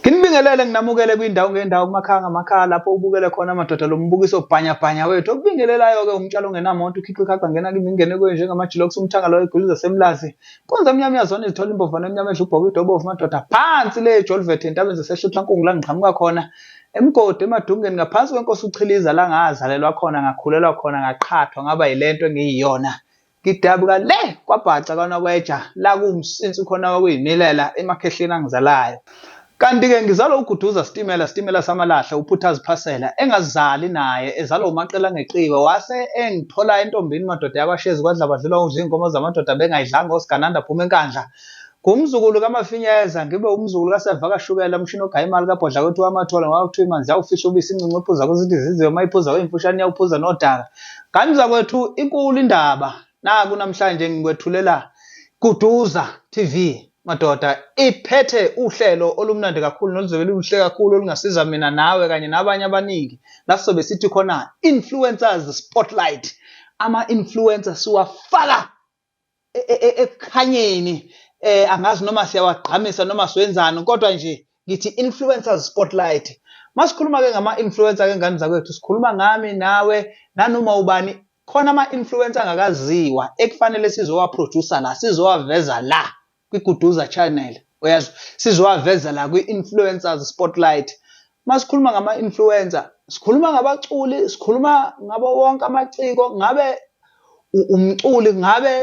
Nginibingelele nginamukele kwindawo ngendawo kumakhaya ngamakhaya lapho ubukele khona amadoda lo mbukiso bhanyabhanya wethu okubingelelayo-ke umtshalo ongenamonto ukhiqi ikhaqha ngena kimi ngingene kuyo njengamajilokusa umthanga loyo eguluza semlazi konze emnyama iyazona izithola imbovana emnyama edla ubhoka idobovu madoda phansi le ejolivethe entabeni zasehlutla nkungu la ngiqhamuka khona emgodi emadungeni ngaphansi kwenkosi uchiliza la ngazalelwa khona ngakhulelwa khona ngaqhathwa ngaba yile nto engiyiyona Ngidabuka le kwabhaca kwanokweja la kuwumsinsi khona wakuyimilela emakhehleni angizalayo. Kanti-ke ngizalwa uGuduza Sitimela Sitimela Samalahle uPhuthazi Phasela engazali naye ezalwa uMaqela ngeqiwe wase engithola entombini madoda yakwaShezi kwaDlabadlula udla iy'nkomo zamadoda bengayidlanga oSigananda Phuma eNkandla Ngumzukulu kaMafinyeza, ngibe umzukulu kaSevakashukela, umshini ogaya imali kabhodla kwethu wamathola ngoba kuthiwa imanzi yawufihla ubisi incinci iphuza kuzithi izizwe uma iphuza kweyimfushane yawuphuza nodaka. Ngani zakwethu inkulu indaba naku namhlanje ngikwethulela Kuduza TV madoda iphethe uhlelo olumnandi kakhulu noluzobe luhle kakhulu olungasiza mina nawe kanye nabanye abaningi la sizobe sithi khona influencers spotlight ama-influencer siwafaka e, e, e, ekukhanyeni eh angazi noma siyawagqamisa noma siwenzani kodwa nje ngithi influencers spotlight masikhuluma ke ngama influencer ke ngane zakwethu sikhuluma ngami nawe nanoma ubani khona ama influencer angakaziwa ekufanele sizowa producer la sizowaveza la kwiGuduza Channel uyazi sizowaveza la kwi-influencers spotlight masikhuluma ngama-influencer sikhuluma ngabaculi sikhuluma ngabo wonke amaciko ngabe umculi ngabe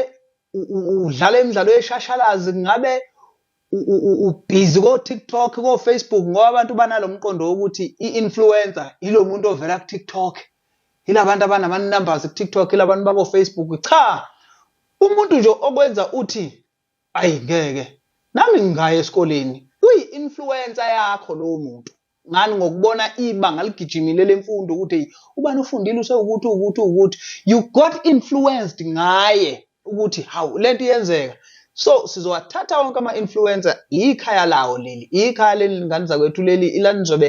udlala imidlalo yeshashalazi ngabe ubhizi ko-tiktok ko-facebook ngoba abantu banalo mqondo wokuthi i-influencer yilo muntu ovela ku-tiktok yilabantu abanama-numbers ku-tiktok yilabantu bako-facebook cha Umuntu nje okwenza uthi ayi ngeke nami ngingaya esikoleni kuyi influencer yakho lowo muntu ngani ngokubona ibanga ligijimile lemfundo ukuthi hey ubani ufundile usewukuthi ukuthi ukuthi you got influenced ngaye ukuthi hawu lento iyenzeka so sizowathatha wonke ama influencer ikhaya lawo leli ikhaya leli ngane zakwethu leli ilanizobe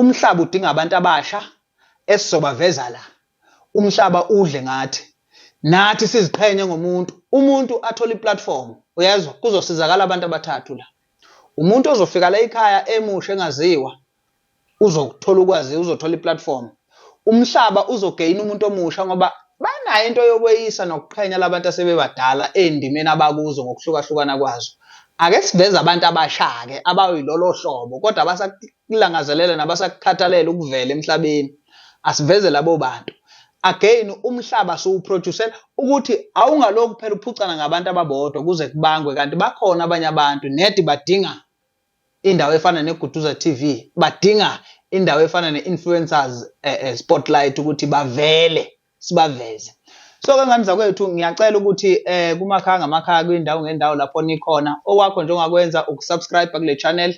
Umhlaba udinga abantu abasha esizobaveza la. Umhlaba udle ngathi. Nathi siziqhenye ngomuntu. Umuntu athola iplatform. Uyezwa? Kuzosizakala abantu abathathu la. Umuntu ozofika la ekhaya emusha engaziwa uzokuthola ukwazi uzothola iplatform. Umhlaba uzogeyina umuntu omusha ngoba banayo into yokweyisa nokuqhenya labantu asebebadala ey'ndimeni abakuzo ngokuhlukahlukana kwazo. Ake siveze abantu abasha-ke abayilolo hlobo kodwa abasakulangazelela nabasakukhathalela ukuvela emhlabeni. Asiveze labo bantu. Again umhlaba siwuproducer ukuthi awungalokhu phela uphucana ngabantu ababodwa kuze kubangwe kanti bakhona abanye abantu nedi badinga indawo efana neGuduza TV badinga indawo efana ne-influencers eh, eh, spotlight ukuthi bavele sibaveze so ke ngani zakwethu ngiyacela ukuthi eh kumakhaya ngamakhaya kwindawo ngendawo lapho nikhona okwakho njengakwenza ukusubscribe kule channel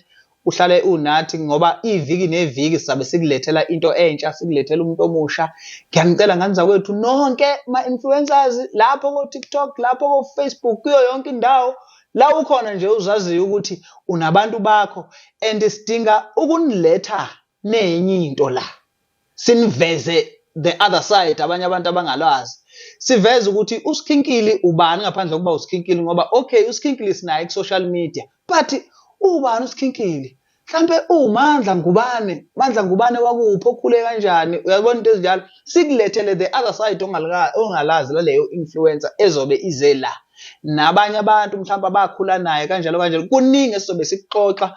uhlale unathi ngoba iviki neviki sizabe sikulethela into entsha sikulethela umuntu omusha ngiyanicela ngani zakwethu nonke ma-influencers lapho ko-tiktok lapho ko-facebook kuyo yonke indawo La ukhona nje uzaziyo ukuthi unabantu bakho and sidinga ukuniletha nenye into la. Siniveze the other side abanye abantu abangalwazi. Siveze ukuthi uSkhinkili ubani ngaphandle kokuba uSkhinkili ngoba okay uSkhinkili sinaye ku social media but ubani uSkhinkili? mhlampe uwumandla ngubane mandla ngubane wakuphi okhule kanjani uyabona into ezinjalo sikulethele the other side ongalazi laleyo influencer ezobe ize la nabanye abantu mhlawumbe abakhula naye kanjalo kanjalo kuningi esizobe sikuxoxa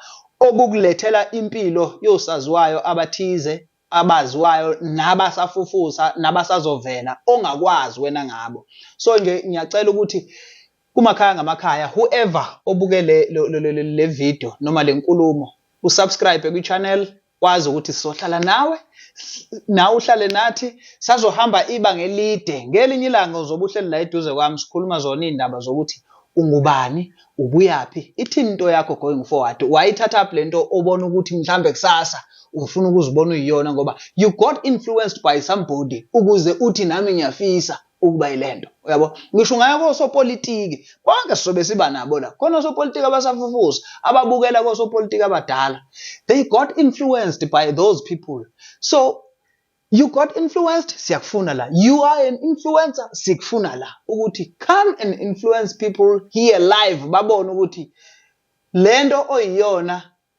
okukulethela impilo yosaziwayo abathize abaziwayo nabasafufusa nabasazovela ongakwazi wena ngabo so nje ngiyacela ukuthi Kumakhaya ngamakhaya whoever obuke le le, le, le, le video noma lenkulumo usubscribe kwi channel wazi ukuthi sizohlala nawe nawe uhlale nathi sazohamba ibanga elide ngelinye ilanga uzobe uhleli la eduze kwami sikhuluma zona iy'ndaba zokuthi ungubani ubuyaphi ithini into yakho going forward wayithatha up le nto obona ukuthi mhlambe kusasa ufuna ukuzibona uyiyona ngoba you got influenced by somebody ukuze uthi nami ngiyafisa ukuba ilento uyabo ngisho ngayo kosopolitiki bonke sizobe siba nabo la khona osopolitiki abasafufusa ababukela kosopolitiki abadala they got influenced by those people so you got influenced siyakufuna la you are an influencer sikufuna la ukuthi come and influence people here live babone ukuthi lento oyiyona